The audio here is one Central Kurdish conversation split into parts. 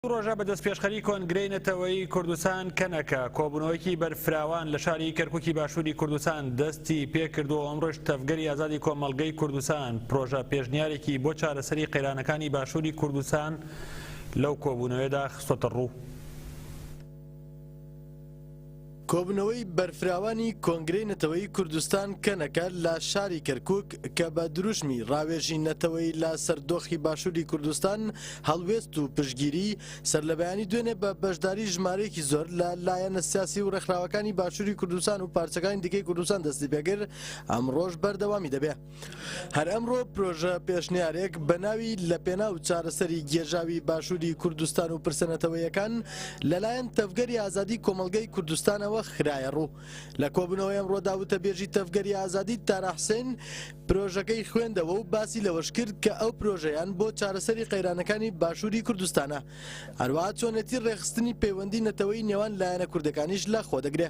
دوو ڕۆژە بە دەستپێشخەری کۆنگرەی نەتەوەیی کوردستان، کەنەکە، کۆبوونەوەیەکی بەرفراوان لە شاری کەرکوکی باشووری کوردستان دەستی پێکردووە و ئەمڕۆش تەڤگەری ئازادی کۆمەڵگەی کوردستان پرۆژە پێشنیارێکی بۆ چارەسەری قەیرانەکانی باشووری کوردستان لەو کۆبوونەوەیەدا خستۆتەڕوو. کۆبوونەوەی بەرفراوانی کۆنگرەی نەتەوەیی کوردستان کەنەکە لە شاری کەرکوک کە بە دروشمی ڕاوێژی نەتەوەیی لە سەر دۆخی باشوری کوردستان، هەڵوێست و پشتگیری، سەرلەبەیانی دوێنێ بە بەشداری ژمارەیەکی زۆر لە لایەنە سیاسی و ڕێکخراوەکانی باشوری کوردستان و پارچەکانی دیکەی کوردستان دەستیپێکرد، ئەمڕۆش بەردەوامی دەبێ. هەر ئەمڕۆ پرۆژە پێشنیارێک بە ناوی لە پێناو چارەسەری گێژاوی باشووری کوردستان و پرسە نەتەوەیەکان لەلایەن تەڤگەری ئازادی کۆمەڵگەی کوردستانەوە خرایە ڕوو لە کۆبوونەوەی ئەمڕۆدا وتەبێژی تەڤگەری ئازادی تارا حسێن پرۆژەکەی خوێندەوە و باسی لەوەش کرد کە ئەو پرۆژەیان بۆ چارەسەری قەیرانەکانی باشووری کوردستانە هەروەها چۆنێتی ڕێخستنی پەیوەندی نەتەوەی نێوان لایەنە کوردەکانیش لە خۆ دەگرێ.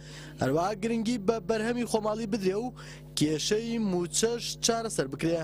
هەروەها گرنگی بە بەرهەمی خۆماڵی بدرێ و کێشەی مووچەش چارەسەر بکرێ.